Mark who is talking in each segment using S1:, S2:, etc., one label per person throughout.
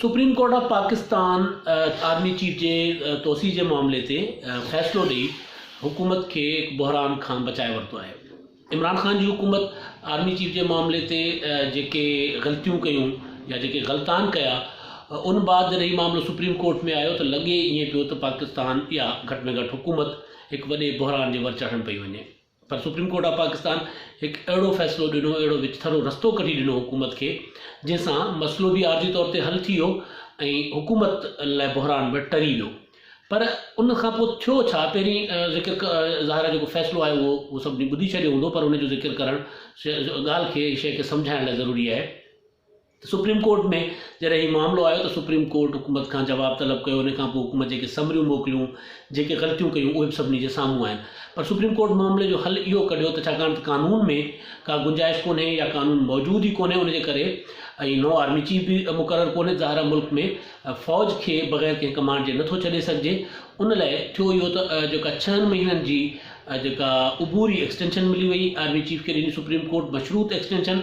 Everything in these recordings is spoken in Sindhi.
S1: Supreme court of Pakistan army chief جي توسيع جي معاملي تي فيصلو ڏئي حڪومت کي بحران کان بچائي ورتو آهي عمران خان جي حڪومت آرمي چيف جي معاملي تي جيڪي غلطيون ڪيون يا جيڪي غلطان ڪيا ان بعد جڏهن هي معاملو سپريم ڪورٽ ۾ آيو ته لڳي ائين پيو ته پاڪستان يا گهٽ ۾ گهٽ حڪومت هڪ وڏي بحران جي ور چڙهڻ پئي وڃي پر سپريم ڪورٽ آف پاڪستان هڪ اهڙو فيصلو ڏنو، اهڙو وچٿرو رستو ڪڍي ڏنو حڪومت کي، جنهن سان مسئلو به عارضي طور تي حل ٿي ويو ۽ حڪومت لاء بحران به ٽري ويو. پر ان کان پوء ٿيو ڇا؟ پهرين ذڪر ظاهر آهي جيڪو فيصلو آيو اهو سڀني ٻڌي ڇڏيو هوندو پر ان جو ذڪر ڪرڻ ڳالهه کي، شيء کي سمجهائڻ لاء ضروري آهي. سپريم ڪورٽ ۾ جڏهن هي معاملو آيو ته سپريم ڪورٽ حڪومت کان جواب طلب ڪيو ان کانپوء حڪومت جيڪي سمريون موڪليون جيڪي غلطيون ڪيون اهي به سڀني جي سامهون آهن پر سپريم ڪورٽ معاملي جو حل اهو ڪڍيو ته ڇاڪاڻ ته قانون ۾ ڪا گنجائش ڪونهي يا قانون موجود ئي ڪونهي ان جي ڪري ۽ نئون آرمي چيف به مقرر ڪونهي ظاهر ملڪ ۾ فوج کي بغير ڪنهن ڪمانڊ جي نٿو ڇڏي سگهجي ان لاء ٿيو اهو ته جيڪا ڇهن مهينن جي جيڪا عبوري ايڪسٽينشن ملي وئي آرمي چيف کي ڏني سپريم ڪورٽ مشروط ايڪسٽينشن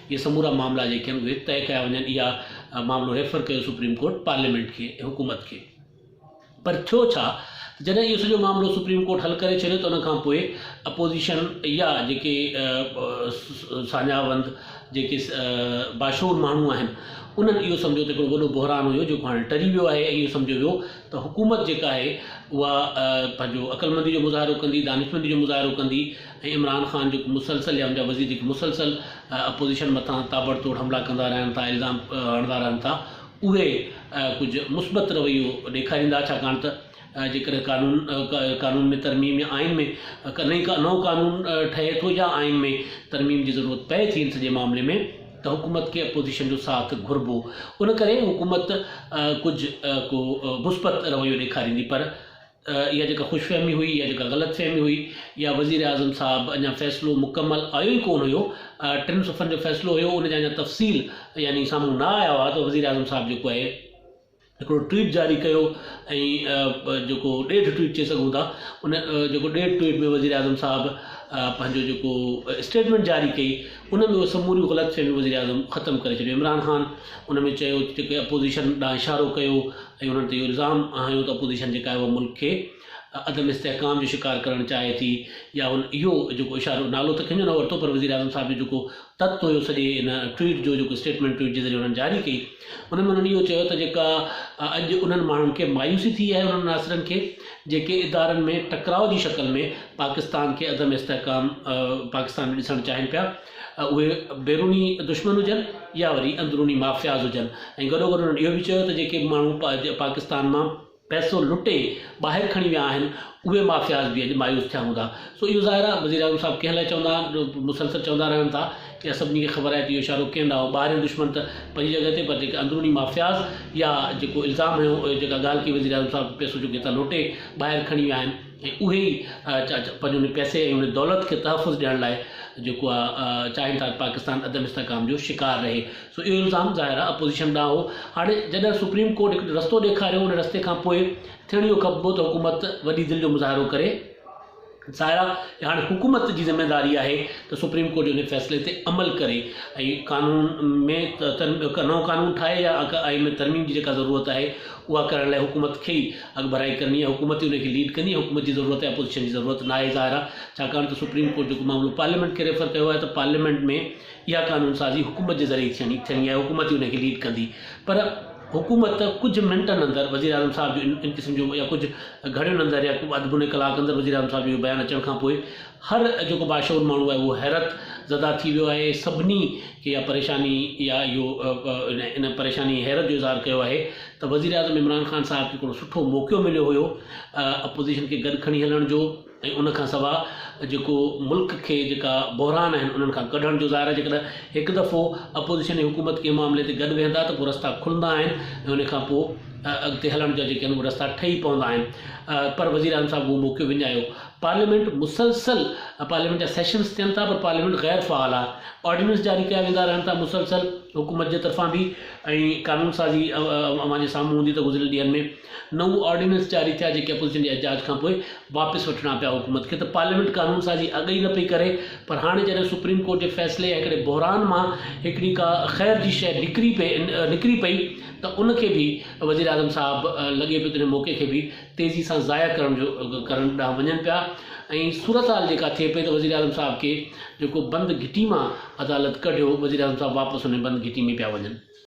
S1: اهي سمورا معاملا جيڪي آهن اهي طئي ڪيا وڃن اها معاملو ريفر ڪيو سپريم ڪورٽ پارليامينٽ کي ۽ حڪومت کي پر ٿيو ڇا ته جڏهن اهو سڄو معاملو سپريم ڪورٽ حل ڪري ڇڏيو ته ان کان پوء اپوزيشن يا جيڪي ساڃاهه وند جيڪي باشعور ماڻهو آهن انهن اهو سمجهيو ته هڪڙو وڏو بحران هيو جيڪو هاڻي ٽري ويو آهي اهو سمجهيو ويو ته حڪومت جيڪا آهي اها پنهنجو عقلمندي جو مظاهرو ڪندي دانشمندي جو مظاهرو ڪندي ۽ عمران خان جيڪو مسلسل يا ان جا وزير جيڪي مسلسل اپوزيشن مٿان تابڙتوڙ حملا ڪندا رهن ٿا الزام هڻندا رهن ٿا اهي ڪجهه مثبت رويو ڏيکاريندا ڇاڪاڻ ته جيڪڏهن قانون قانون ۾ ترميم يا آئين ۾ نئين نئون قانون ٺهي ٿو يا آئين ۾ ترميم جي ضرورت پئي ٿي ان سڄي معاملي ۾ ته حڪومت کي اپوزيشن جو ساٿ گهربو ان ڪري حڪومت ڪجهه ڪو مثبت رويو ڏيکاريندي پر اها جيڪا خوش فهمي هئي يا جيڪا غلط فهمي هئي يا وزيراعظم صاحب اڃا فيصلو مڪمل آيو ئي ڪونه هيو ٽن صفحن جو فيصلو هيو ان جا اڃا تفصيل يعني سامهون نه آيا هئا ته وزيراعظم صاحب جيڪو آهي هڪڙو ٽويٽ جاري ڪيو ۽ جيڪو ڏيڍ ٽويٽ چئي سگهون ٿا ان جيڪو ڏيڍ ٽويٽ ۾ وزيراعظم صاحب پنهنجو جيڪو اسٽيٽمنٽ جاري ڪئي ان ۾ اهي سموريون غلط فهميون وزيراعظم ختم ڪري ڇڏيو عمران خان ان ۾ چيو جيڪي اپوزيشن ڏانهن اشارو ڪيو ۽ انهن تي اهو الزام هنيو ته اپوزيشن جيڪا آهي اها ملڪ کي عدم استحڪام جو شڪار ڪرڻ چاهي ٿي يا هن اهو جيڪو اشارو نالو ته ڪنهن جو نه ورتو پر وزيراعظم صاحب جو جيڪو تت هيو سڄي ان ٽوئيٽ جو جيڪو اسٽيٽمينٽ ٽوئيٽ جي ذريعي انهن جاري ڪئي ان ۾ انهن اهو چيو ته جيڪا اڄ انهن ماڻهن کي مايوسي ٿي آهي انهن عناصرن کي جيڪي ادارن ۾ ٽڪراء جي شڪل ۾ پاڪستان کي عدم استحڪام پاڪستان ۾ ڏسڻ چاهين پيا اهي بيروني دشمن هجن يا وري اندروني مافياز هجن ۽ گڏو گڏ انهن اهو به چيو ته جيڪي ماڻهو پاڪستان مان پئسو لٽي ٻاهر کڻي ويا آهن اهي مافياز به اڄ مايوس ٿيا هوندا سو اهو ظاهر آهي وزيراعظم صاحب ڪنهن لاء چوندا آهن مسلسل چوندا رهن ٿا يا سڀني کي خبر آهي ته اهو اشارو ڪنهن ڏانهن هو ٻاهريون دشمن ته پنهنجي جڳهه تي پر جيڪي اندروني مافياز يا جيڪو الزام هيو جيڪا ڳالهه ڪئي وزيراعظم صاحب پئسو جيڪو هتان لوٽي ٻاهر کڻي ويا آهن اهي ئي پنهنجي ان پئسي ۽ ان دولت کي تحفظ ڏيڻ لاء جيڪو آ چاهين ٿا ته پاڪستان عدم استحڪام جو شڪار رهي سو اهو الزام ظاهر آ اپوزيشن ڏانهن هو هاڻي جڏهن سپريم ڪورٽ هڪ رستو ڏيکاريو ان رستي کان پوء ٿيڻ اهو کپبو ته حڪومت وڏي دل جو مظاهرو ڪري ظاهر آ ته هاڻي حڪومت جي ذميواري آهي ته سپريم ڪورٽ جي ان فيصلي تي عمل ڪري ۽ قانون ۾ نئون قانون ٺاهي يا آئين ۾ ترميم جي جيڪا ضرورت آهي اها ڪرڻ لاء حڪومت کي ئي اڳڀرائي ڪرڻي ۽ حڪومت ئي ان کي ليڊ ڪندي ۽ حڪومت جي ضرورت آهي اپوزيشن جي ضرورت ناهي ظاهر آهي ڇاڪاڻ ته سپريم ڪورٽ جيڪو معاملو پارليامينٽ کي ريفر ڪيو آهي ته پارليامينٽ ۾ اها قانون سازي حڪومت جي ذريعي ٿيڻي ٿيڻي آهي حڪومت ئي ان کي ليڊ ڪندي پر حڪومت ڪجهه منٽن اندر وزير اعظم صاحب جو ان قسم جو يا ڪجهه گهڙين اندر يا اڌ موني ڪلاڪ اندر وزير اعظم صاحب جو بيان اچڻ کان پوء هر جيڪو باشعور ماڻهو آهي اهو حيرت زده ٿي ويو آهي سڀني اها پريشاني يا اهو ان پريشاني حيرت جو اظهار ڪيو آهي ته وزيراعظم عمران خان صاحب کي هڪڙو سٺو موقعو مليو هيو اپوزيشن کي گڏ کڻي هلڻ جو ۽ ان کان سوا جيڪو ملڪ کي جيڪا بحران آهن انهن کان ڪڍڻ جو ظاهر آهي جيڪڏهن هڪ دفعو اپوزيشن ۽ حڪومت ڪنهن معاملي تي گڏ ويهندا ته پوء رستا کلندا آهن ۽ ان کان پوء اڳتي هلڻ جا جيڪي آهن اهي رستا ٺهي پوندا آهن پر وزيراعظم صاحب اهو موقعو وڃايو پارليامينٽ مسلسل پارليامينٽ جا سيشنز ٿين ٿا پر پارليامينٽ غير فعال آهي آرڊيننس جاري ڪيا ويندا رهن ٿا مسلسل حڪومت جي طرفان به ۽ قانون سازي اوهان جي سامهون هوندي ته گذريل ڏينهن ۾ نو آرڊيننس جاري ٿيا جيڪي اپوزيشن جي احتجاج کان پوء واپس وٺڻا پيا حڪومت کي ته پارليامينٽ قانون سازي اڳ ئي نه پئي ڪري پر هاڻي جڏهن سپريم ڪورٽ جي فيصلي يا هڪڙي بحران مان هڪڙي ڪا خير جي شيء نڪري پئي نڪري پئي ته ان کي به وزيراعظم صاحب لڳي پيو ته ان موقعي کي به تيزي سان ضايع ڪرڻ جو ڪرڻ ڏانهن وڃن پيا ۽ صورتحال جيڪا ٿئي پئي ته وزيراعظم صاحب کي جيڪو بند گهٽي مان عدالت ڪڍيو وزيراعظم صاحب واپس انهي بند گهٽي ۾ پيا وڃن